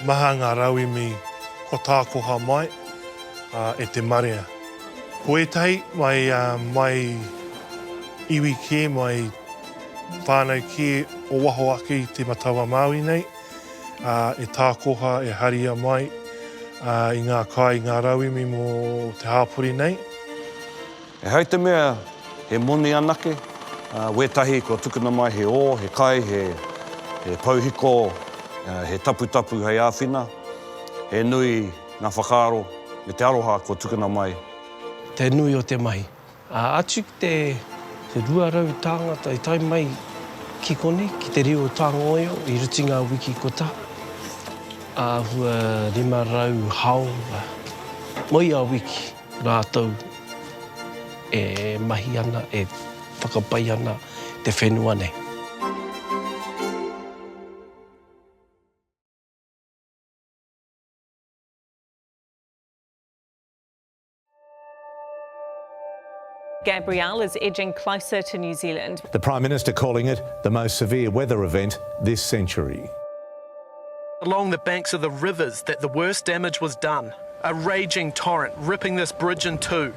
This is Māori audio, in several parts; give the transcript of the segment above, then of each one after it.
Maha ngā rauemi kua tākoha mai e te marea. Ko ētahi mai iwi kē, mai whānau kē o waho ake i Te Matau-a-Māui nei, e tākoha, e haria mai i ngā kai, i ngā rauemi mō te hāpori nei. E hai te mea he moni anake, ā, wētahi kua tukuna mai he ō, he kai, he, he pouhiko, ā, he taputapu hei āwhina, he nui ngā whakaaro me te aroha kua tukuna mai. Te nui o te mahi. Ā, atu ki te, te rua rau tāngata i tae mai ki konei, ki te reo Tāngoio i ruti ngā wiki kotā, āhua rima rau hāora, moe ia wiki. Rātou e mahi ana, e whakapai ana te whenua nei. Gabrielle is edging closer to New Zealand. The Prime Minister calling it the most severe weather event this century. along the banks of the rivers that the worst damage was done, a raging torrent ripping this bridge in two.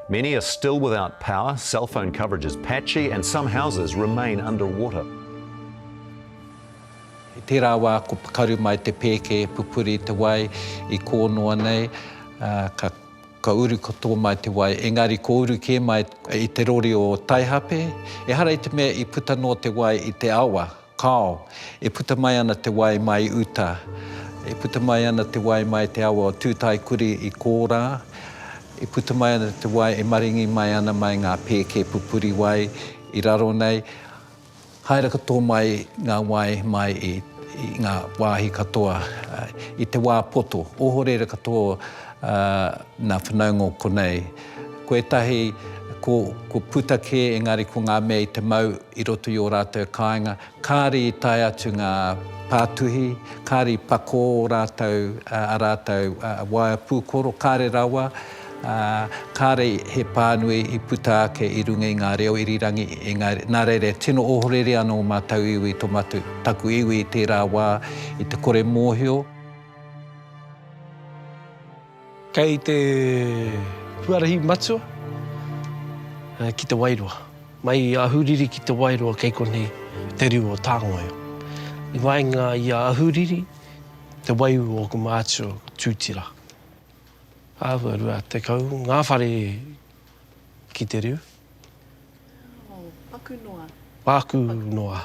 Many are still without power, cell phone coverage is patchy and some houses remain under water. I tērā wā ko pakaru mai te pēke e pupuri te wai i kō noa nei, ka ka uru ka tō mai te wai, engari ko uru kē mai i te rori o Taihape, ehara i te mea i puta noa te wai i te awa. Kāo, e puta mai ana te wai mai uta, e puta mai ana te wai mai te awa o Tūtaekuri i Kōrā, e puta mai ana te wai e maringi mai ana mai ngā pēke pupuri wai i raro nei, haere katoa mai ngā wai mai i ngā wāhi katoa i te wā poto, ohorere katoa nā whanaunga o konei. Ko ētahi ko, ko puta kē, engari ko ngā mea i te mau i roto i ō rātou kāinga, kāre i tae atu ngā pātuhi, kāre i pakō ō rātou, ā rātou waea pūkoro, kāre rawa, ā, kāre he pānui i puta ake i runga i ngā reo irirangi, engari, nā reira, tino ohorere ana ō mātou iwi i tō mātou, taku iwi i tērā wā, i te kore mōhio. Kei te huarahi matua ki Te Wairoa. Mai i Ahuriri ki Te Wairoa kei konei te riu o Tāngoio. I waenga i a Ahuriri, te waiū o ōku mātua ko Tūtira. Āhua rua tekau ngā whare ki te riu. Wow, paku noa. Paku noa.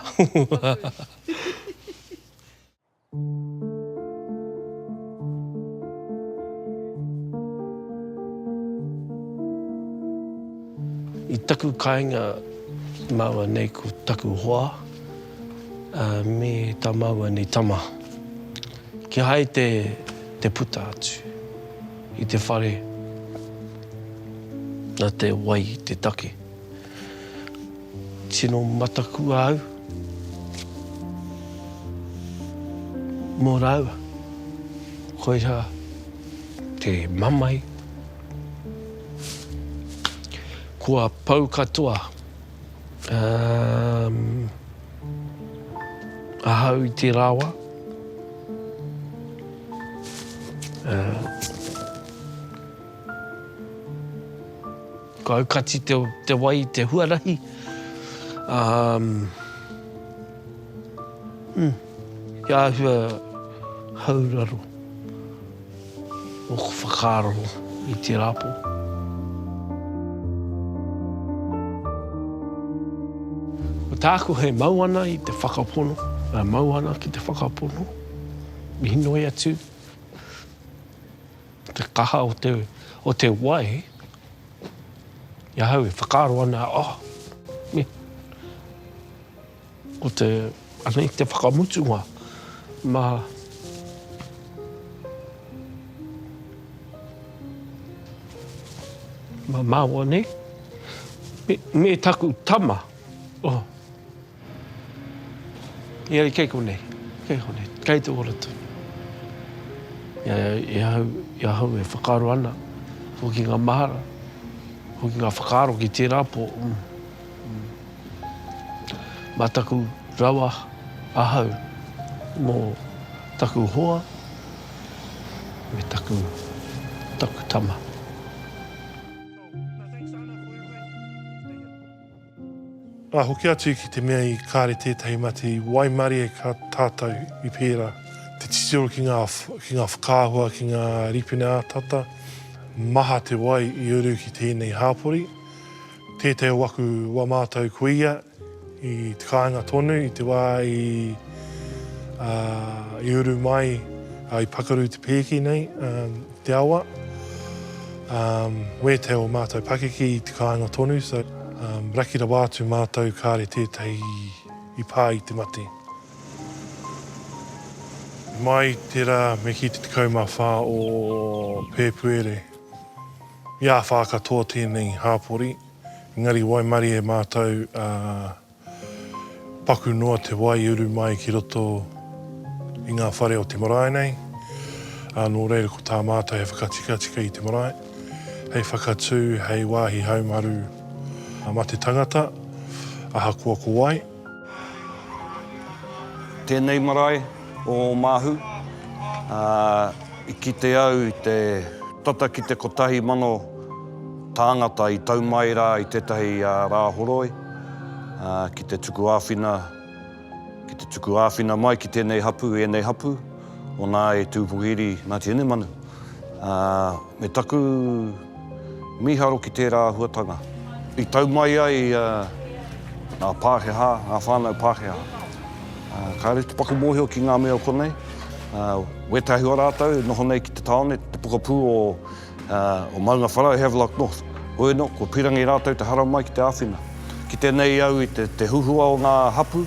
I taku kāinga māua nei ko taku hoa, me tā māua nei tama. Kihai te puta atu i te whare na te wai te take. Tino matakua au mō rāua. Koirā te mamae. Kua pau katoa. Um, ahau i te rāua. Uh, Ka aukati te wai i te huarahi, ā, hm, he āhua hauraro ōku whakaaro i tērā pō. Ko tāku he mau ana i te whakapono, e mau ana ki te whakapono, inoi atu, Te kaha o te, o te wai, i ahau e whakaaro ana, oh, me, ko te, ana i te whakamutunga, ma, ma maua nei, me, me taku tama, oh, Engari kei konei, kei konei, kei te ora tonu. I ahau, i ahau e whakaaro ana, hoki ngā mahara, hoki ngā whakaaro ki tērā pō, mā taku rawa ahau mō taku hoa me taku, taku tama. Ka hoki atu ki te mea i kare tētahi mate i waimarie ka tātau i pērā. Te titiro ki ngā ki ngā whakaahua ki ngā ripene ātata, maha te wai i uru ki tēnei hāpori. Tētahi o aku wa mātau ko ia i te kāinga tonu i te wā i i uru mai, i pakaru te pēki nei. te awa, um, wētea o mātou pakeke i te kāinga tonu, so um, raki rawa atu mātou kāre tētahi i pā i te mate. Mai tērā me ki te tekau mā whā o Pēpuere. I āwhā katoa tēnei hāpori, engari waimarie mātou uh, Paku noa te wai uru mai ki roto i ngā whare o te marae nei, ā, nō reira ko tā mātou he whakatikatika i te marae, hei whakatū, hei wāhi haumaru mā te tangata, ahakoa ko wai. Tēnei marae, O Oamahu, ā, i kite au i te tata ki te kotahi mano tāngata i tau mai rā i tētahi rā horoi, ā, ki te tuku āwhina, ki te tuku āwhina mai ki tēnei hapū, ēnei hapū, o nā e Tū Pohiri, Ngāti Hinemanu, ā, me taku. Mīharo ki tērā āhuatanga i tau mai ai ngā Pākehā, ngā whānau Pākehā. Kāre te paku mōhio ki ngā mea o konei, wētahi o rātou e noho nei ki te tāone, te pokapū o Maungawhara, o Havelock North. Hoi anō, kua pīrangi rātou te haramai ki te āwhina. Kite nei au i te huhua o ngā hapū,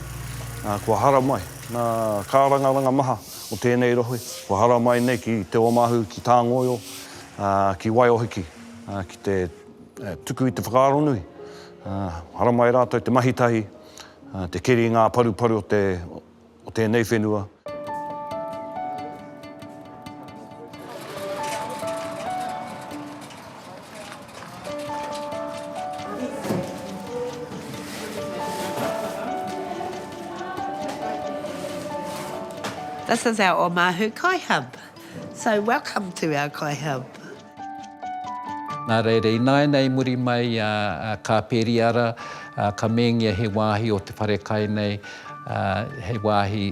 kua haramai ngā kārangaranga maha o tēnei rohe, kua haramai nei ki Te Ōmāhu, ki Tāngoio, Ā, ki Waiōhiki, ā, ki te tuku i te whakaaronui, ā, haramai e rātou te mahi tahi, ā, te keri i ngā paruparu o te, o tēnei whenua. This is our Omahu Kai Hub. So welcome to our kai hub. Nā reira, ināiana i muri mai a Kāpēriara, ka mēngia he wāhi o te whare kai nei, he wāhi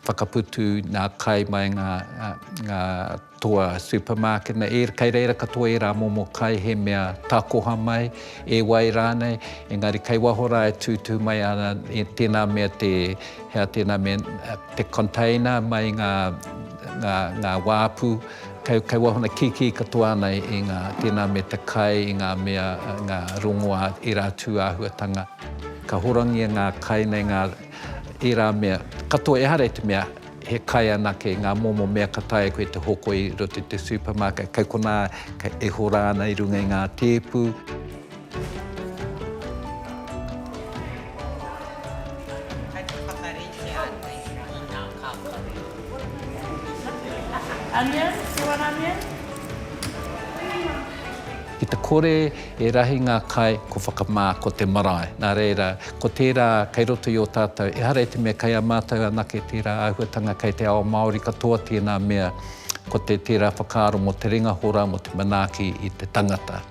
whakaputu nā kai mai ngā toa supermarket nei. Kei reira katoa ērā momo kai, he mea takoha mai, e wai rānei, engari kei waho rā e tūtū mai ana, tēnā mea te Hea tēnā me te container mai i ngā wāpu kei wāhuna kikī katoa ana i ngā, tēnā me te kai i ngā mea, ngā rongoā, ērā tūāhuatanga. Ka horangia ngā kai nei ngā, ērā mea katoa ehara i te mea he kai anake, ngā momo mea ka taea koe te hoko i roto i te supermarket, kei konā e hora ana i runga i ngā tēpu. Kei te whakaritea nei i ngā kākano. Onion, do you want onion? Ki te kore e rahi ngā kai ko whakamā, ko te marae. Nā reira, ko tērā kei roto i ō tātou, ehara i te mea kei a mātou anake tērā āhuatanga kei te ao Māori katoa tēnā mea, ko te tērā whakaaro mō te ringa hora, mō te manaaki i te tangata.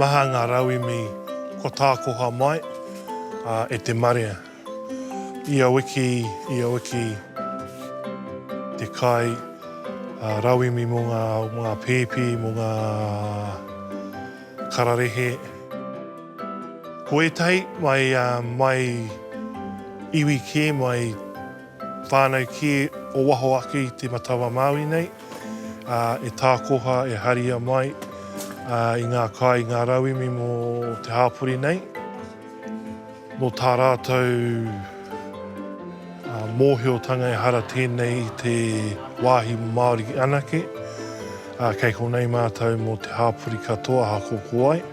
Maha ngā rauemi kua tākoha mai e te marea. Ia wiki, ia wiki te kai rauemi mō ngā pēpi, mō ngā kararehe. Ko ētahi mai, mai iwi kē, mai whānau kē o waho ake i te Matau-a Māui nei, e tākoha, e haria mai i ngā kai, i ngā rauemi mō te hāpori nei. Nō tā rātou mōhiotanga ehara tēnei i te wāhi Māori anake, kei konei mātou mō te hāpori katoa aha ko ko wai.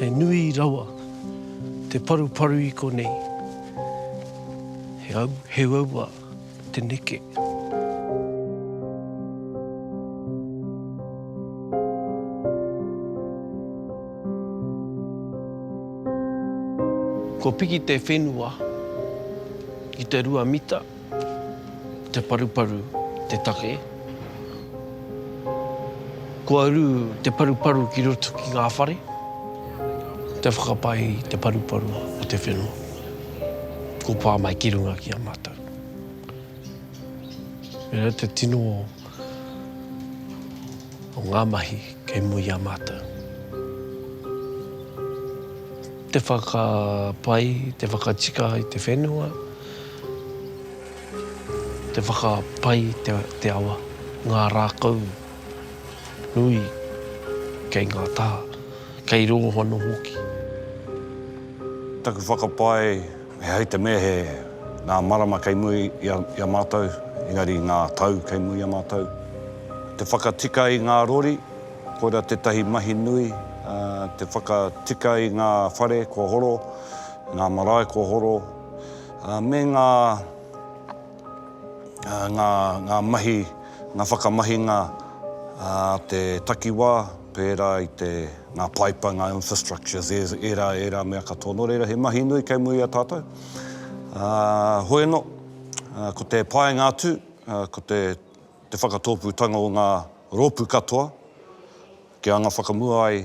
He nui rawa te paruparu i konei. He au, he uaua te neke. Kua piki te whenua ki te rua mita. Te paruparu te take. Kua uru te paruparu ki roto ki ngā whare, te whakapai i te paruparu o te whenua, kua pā mai ki runga ki a mātou. Pērā te tino o ngā mahi kei mua i a mātou. Te whakapai, te whakatika i te whenua. Te whakapai i te awa, ngā rākau nui kei ngā taha, kei rongo anō hoki. Taku whakapae, he hai te mea he ngā marama kei mua i a mātou, engari ngā tau kei mua i a mātou. Te whakatika i ngā rori, koirā tētahi mahi nui, te whakatika i ngā whare kua horo, ngā marae kua horo. me ngā ngā ngā mahi, ngā whakamahinga a te takiwā, pērā i te ngā paipa, ngā infrastructures, e ērā, ērā mea katoa. Nō reira, he mahi nui kei mua i a tātou. Hoi anō, ko te painga atu, ko te te whakatōpūtanga o ngā rōpū katoa, kia anga whakamua ai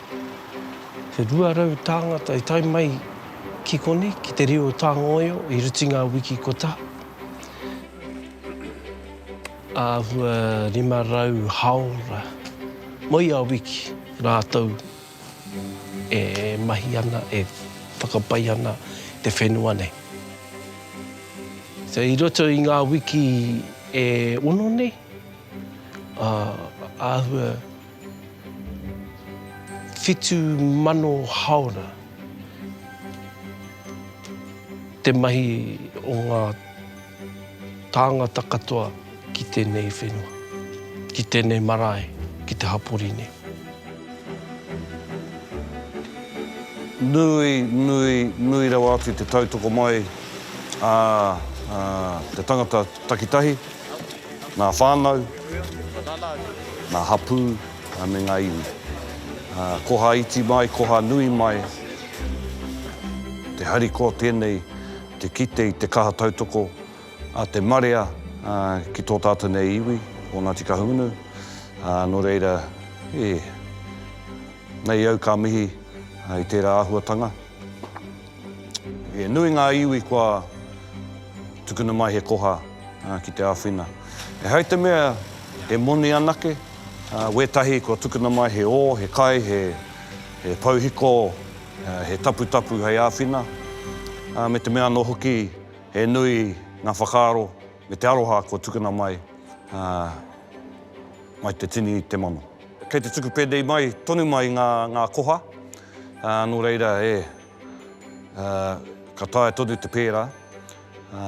He 200 tāngata i tae mai ki konei, ki te reo Tāngaoio i rite i ngā wiki kua taha. Āhua 500 hāora mo ia wiki rātou e mahi ana, e whakapai ana i te whenua nei. I roto i ngā wiki e ono nei, āhua Whitu mano haora te mahi o ngā tāngata katoa ki tēnei whenua, ki tēnei marae, ki te hapori nei. Nui, nui, nui rawa atu te tautoko mai a te tangata takitahi. ngā whānau, ngā hapū me ngā iwi. Koha iti mai, koha nui mai, te harikoa tēnei te kite i te kaha tautoko a te marea ki tō tātou nei iwi o Ngāti Kahungunu. Nō reira, e, nei au ka mihi i tērā āhuatanga. He nui ngā iwi kua tukuna mai he koha ki te āwhina. E hai te mea he moni anake, wētahi kua tukuna mai he ō, he kai, he pouhiko, he taputapu hei āwhina, me te mea anō hoki he nui ngā whakaaro me te aroha kua tukuna mai, mai te tini te mano. Kei te tuku pēnei mai, tonu mai ngā koha. Ā, nō reira, ē, ā, ka taea tonu te pērā. Ā,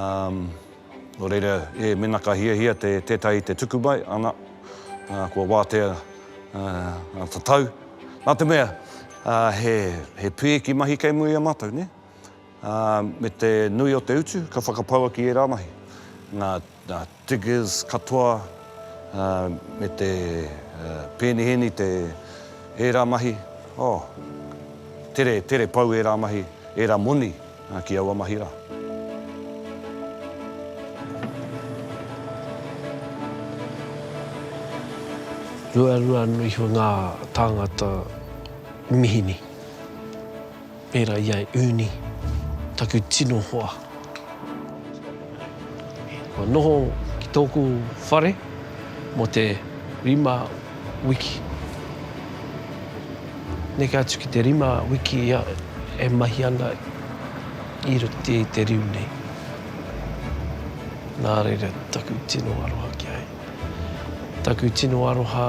nō reira, ē, mēnā ka hiahia te, tētahi te tuku mai, ana, ā, kua wātea, ā, ngā tatau. Nā te mea, ā, he, he pēki mahi kei mua i a mātou, nē? Ā, me te nui o te utu, ka whakapau ake i ērā mahi. Nā, nā. Diggers katoa me te pēniheni, te ērā mahi, oh, tere, tere pau ērā mahi, ērā moni ki aua mahi rā. Ruarua noa iho ngā tāngata mihini. Pērā i a Uni, taku tino hoa. Kua noho ki tōku whare mō te rima wiki. Neke atu ki te rima wiki ia e mahi ana i roto i te riu nei. Nā reira taku tino aroha ki a ia. Taku tino aroha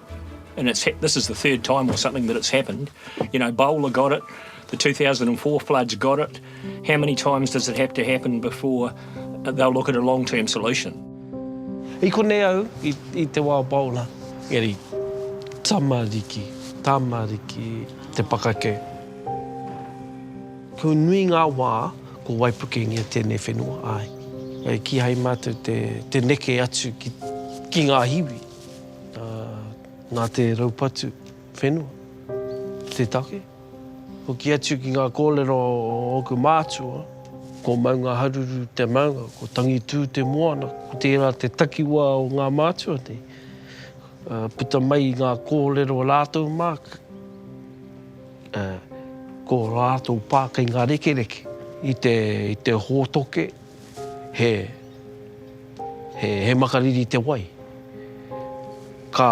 and it's ha- this is the third time or something that it's happened. You know, Bowler got it, the 2004 floods got it. How many times does it have to happen before they'll look at a long term solution? I konei au, i, i te wā Bowler, eri tamariki, tamariki te pakake. Ko nui ngā wā, ko waipukengia tēnei whenua, ai. Ai kihai mātou te, te neke atu ki, ki ngā hiwi. Nā te raupatu whenua, te take, hoki atu ki ngā kōrero o ōku mātua, ko Maungaharuru te maunga, ko Tangitū te moana, ko tērā te takiwā o ngā mātua nei. Puta mai i ngā kōrero o rātou mā, ko rātou pā kei ngā rekereke, i te hōtoke, he, he, he makariri te wai. Ka,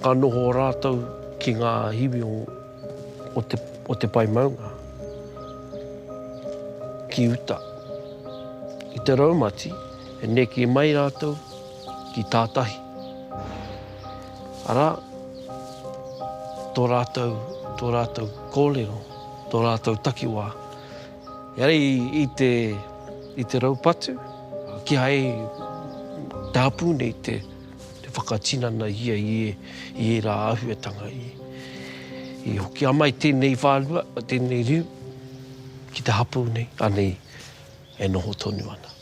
ka noho rātou ki ngā hiwi o, o te, o te pae maunga, ki uta. I te raumati, e neke mai rātou ki tā tahi. Arā, tō rātou, tō rātou kōrero, tō rātou takiwā, Heoi, i te, i te raupatu, kīhai i te hapū nei te, te whakatinanahia i, i ērā āhuatanga. I, i hoki a mai tēnei whārua, tēnei riu, ki te hapū nei, anei e noho tonu ana.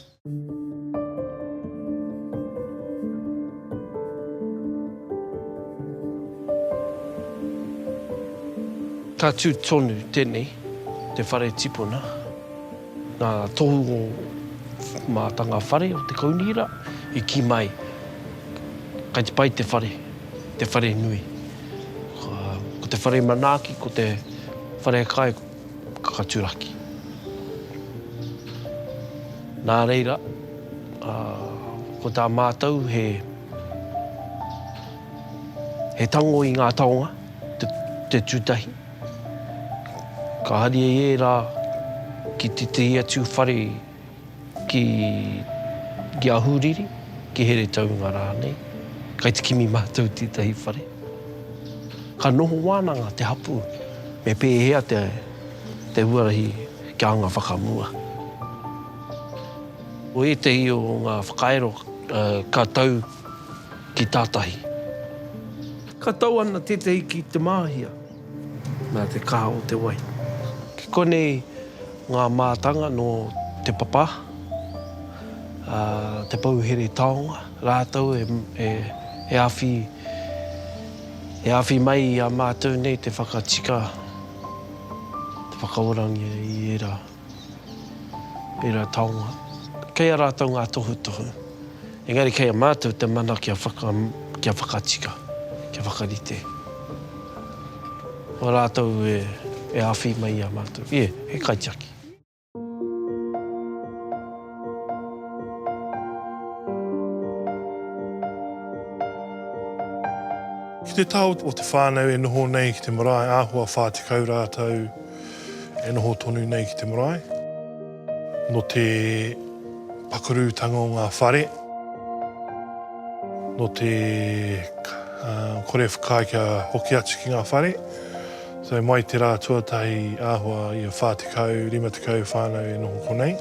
Ka tū tonu tēnei, te whare tipuna, ngā tohu o mātanga whare o te kaunihera i kī mai, kei te pai te whare, te whare nui. Ko te whare manaaki, ko te whare kai. kakaturaki. Nā reira, ko tā mātou he tango i ngā taonga te tūtahi. Ka haria i ērā ki tētahi atu whare, ki Ahuriri, ki Heretaunga rānei, kai te kimi mātou i tētahi whare. Ka noho wānanga te hapū, me pēhea te huarahi kia anga whakamua. Ko ētahi o ngā whakairo ka tau ki tātahi. Ka tau ana tētahi ki Te Māhia. Nā te kaha o te wai. Ki konei ngā mātanga nō Te Papa, Te Pouhere Taonga rātou e awhi, e awhi mai i a mātou nei te whakatika, te whakaorangia i ērā. Tērā taonga. Kei a rātou ngā tohutohu. Engari kei a mātou te mana kia whaka, kia whakatika, kia whakarite. Ko rātou e, e awhi mai i a mātou. Ie, he kaitiaki. Ki te taha o te whānau e noho nei ki te marae āhua whā tekau rātou, E noho tonu nei ki te marae. Nō te pakurutanga o ngā whare, nō te kore whakaae kia hoki atu ki ngā whare. So mai te rā tuatahi āhua ia 40, 50 whānau e noho konei.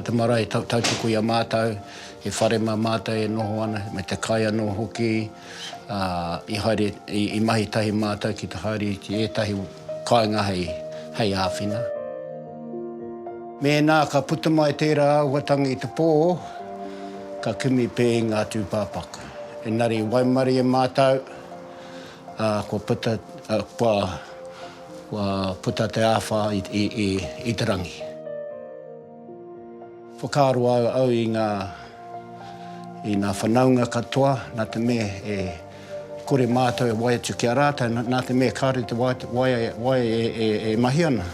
Te marae tautoko i a mātou, he whare mā mātou e noho ana, me te kai anō hoki. I mahi tahi mātou ki te haere i ētahi kāinga hei āwhina. Mēnā ka puta mai tērā āhuatanga i te pō, ka kimi pē i ngā tūpāpaku. Engari i waimarie e mātou, ā, kua puta, kua puta te āwhā i te rangi. Whakaaro au i ngā i ngā whanaunga katoa nā te mea e kore mātou e wai atu ki a rātou nā te mea kāore te waea waea e mahi ana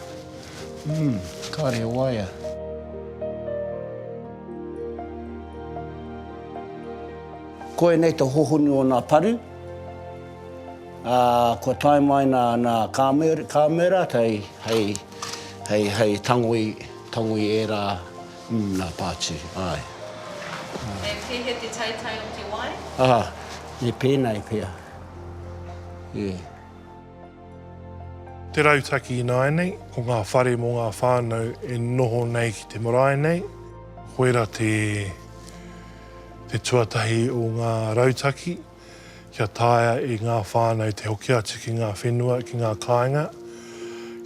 umm kāore e waea. Koinei te hohonu o nā paru, ā, kua tae mai nā, nā Carmel, Carmel rātou hei. Hei, hei tangoi, tangoi ērā, mm, nā Pātū, āe. He pēhea te taitai o te wai? Aha, he pēnā e pea, e. Te rautaki ināianei, ko ngā whare mō ngā whānau e noho nei ki te marae nei. Koirā te, te tuatahi o ngā rautaki. kia taea e ngā whānau te hoki atu ki ngā whenua, ki ngā kāinga,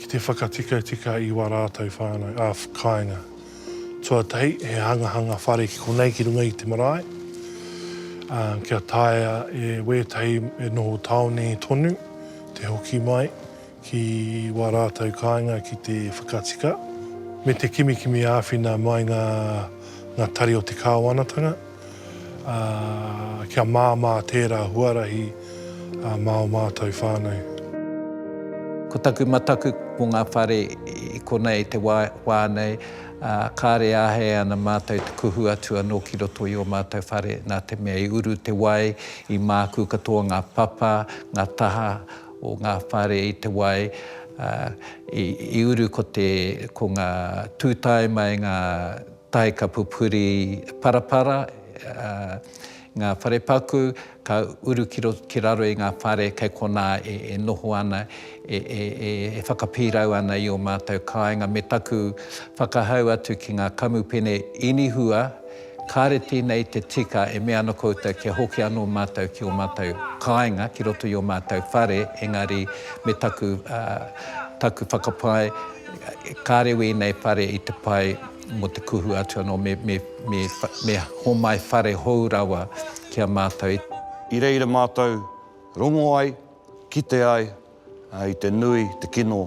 ki te whakatikatika i wā rātou whānau, ā, kāinga. Tuatahi, he hangahanga whare ki konei ki runga i te marae, ā, kia taea e wētahi e noho tāone tonu te hoki mai, ki wā rātou kāinga ki te whakatika, me te kimikimi āwhina mai ngā ngā tari o te kāwanatanga, ā, kia māmā tērā huarahi mā ō mātou whānau. Ko taku mataku mō ngā whare i konei i te wā, wā nei, ā, kāre āhei ana mātou te kuhu atu anō ki roto i ō mātou whare, nā te mea i uru te wai, i mākū katoa ngā papa, ngā taha, o ngā whare i te wai, i uru ko te, ko ngā tūtae mai ngā tae ka pupuri parapara, ngā whare paku ka uru ki roto, ki raro i ngā whare kei konā e noho ana, e whakapīrau ana i ō mātou kāinga me taku whakahau atu ki ngā kamupene inihua, Kāre tēnei te tika e mea ana koutou kia hoki anō mātou ki ō mātou kāinga ki roto i ō mātou whare, engari me taku, taku whakapae, kāre wēnei whare i te pai mō te kuhu atu anō, me, me, me, me homai whare hou rawa ki a mātou. I reira mātou rongo ai, kite ai, I te nui, te kino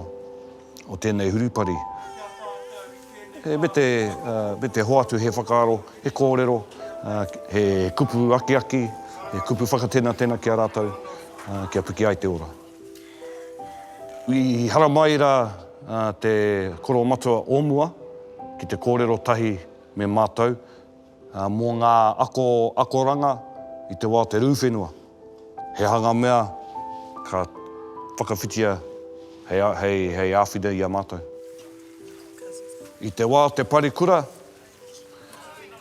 o tēnei hurupari, me te hoatu he whakaaro, he kōrero, he kupu akiaki, he kupu whakatenatena ki a rātou, kia piki ai te ora. I haramai rā te koromatua o mua ki te kōrero tahi me mātou, Mō ngā ako akoranga i te wā o te rū whenua, he aha ngā mea ka whakawhitia hei āwhina i a mātou? I te wā o te parekura,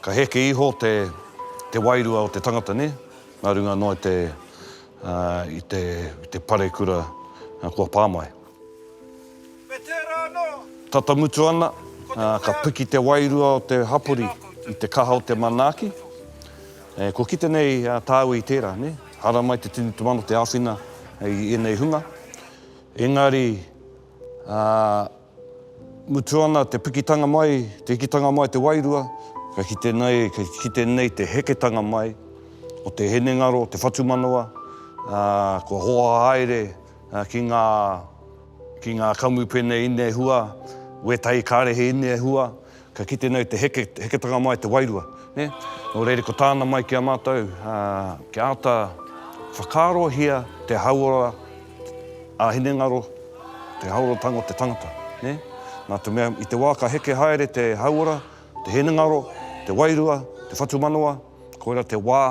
ka heke iho te wairua o te tangata, nē? Nā runga noa i te parekura kua pā mai. Me tērā anō! Tata mutu ana, ka piki te wairua o te hapori i te kaha o te manaaki. E, kua kite nei tāua i tērā, nē? Haramai te tini te mano te āwhina i ēnei hunga. Engari, ā, mutu ana te pikitanga mai, te hikitanga mai o te wairua, ka kite nei, ka kite nei te heketanga mai o te hinengaro, te whatumanawa, ā, kua hoahaere, ki ngā, ki ngā kamupene ine hua, wētahi kārehe ine hua, ka kite nei te heke, heketanga mai te wairua, nē. Nō reira ko tāna mai ki a mātou, kia āta whakaarohia te hauora ā-hinengaro, te hauoratanga o te tangata, nē. Nā te mea, i te wā ka heke haere te hauora, te hinengaro, te wairua, te whatumanawa, Koira te wā,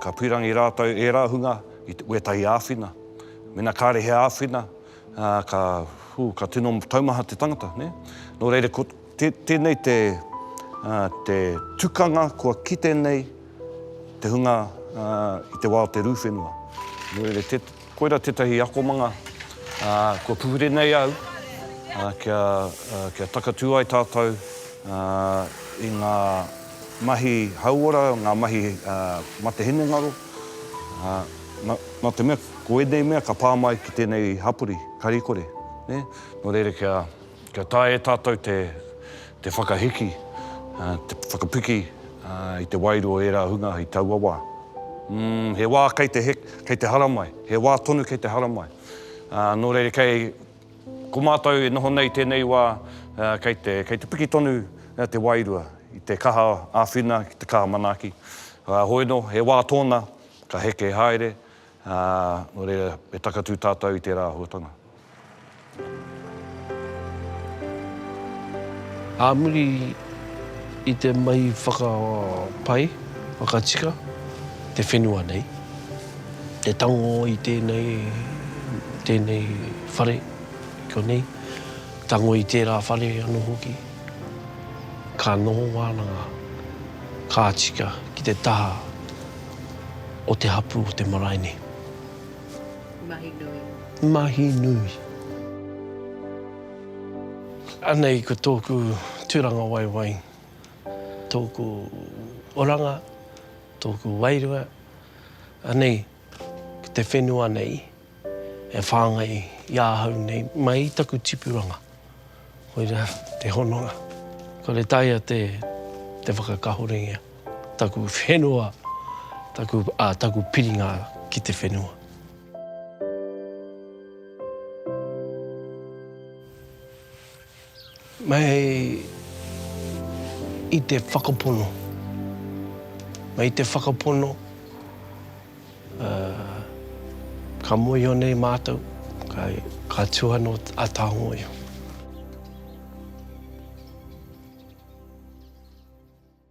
ka pīrangi rātou ērā hunga i wētahi āwhina. Mēnā kāre he āwhina, ka, hū, ka tino taumaha te tangata, nē? Nō reira, ko tēnei te, te tukanga kua kite nei te hunga i te wā o te rū whenua. Nō reira, Koira tētahi akomanga kua puhure nei au kia takatū ai tātou i ngā mahi hauora, ngā mahi mate hinengaro. Nā te mea ko ēnei mea ka pā mai ki tēnei hapori, Karikore. Nō reira kia. Kia taea e tātou te, te whakahiki, te whakapiki i te waeru o ērā hunga i taua wā. Umm, he wā kei te, kei te haramai, he wā tonu kei te haramai. Nō reira kei, ko mātou e noho nei i tēnei wā, kei te, kei te piki tonu te wairua i te kaha āwhina ki te kaha manaaki. Hoi nō, he wā tōna, ka heke haere, Ā, nō reira, e takatū tātou i tērā āhuatanga. Ā muri i te mahi whakapai, whakatika, te whenua nei, te tango i tēnei, tēnei whare i konei, tango i tērā whare anō hoki, ka noho wānanga, ka tika ki te taha. o te hapū o te marae nei. Mahi nui. Mahi nui. Anei ko tōku tūranga waewae, tōku oranga, tōku wairua, anei te whenua nei. E whāngai i ahau nei mai i taku tipuranga. Koira te hononga. Kore taea te whakakahoringia taku whenua, taku, ā, taku piringa ki te whenua. Mei i te whakapono, mei te whakapono, ka moiho nei mātou, ka tuhano a Tāngōio.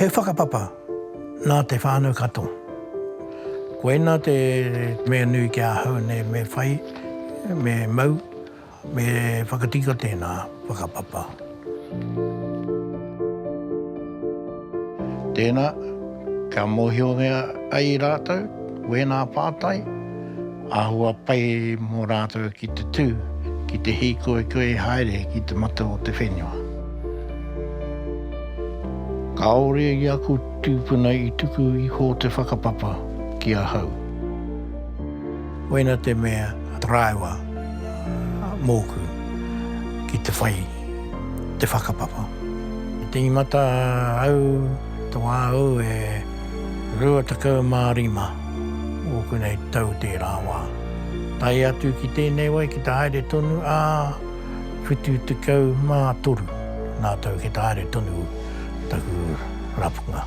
He whakapapa nā te whānau katoa. Koinā te mea nui ki ahau nei me whai, me mau, me whakatika tēnā whakapapa. Tēnā, kia mōhiohia ai rātou, wēnā pātai. Āhua pai mō rātou ki te tū, ki te hīkoikoi haere ki te mata o te whenua. Kāore i aku tūpuna i tuku iho te whakapapa ki ahau. Koina te mea rāua mōku ki te whai te whakapapa. I tīmata au, tō āu e. 25 ōku nei tau tērā wā. Tae atu ki tēnei wai ki te haere tonu ā 73 ngā tau ki te haere tonu taku rapunga.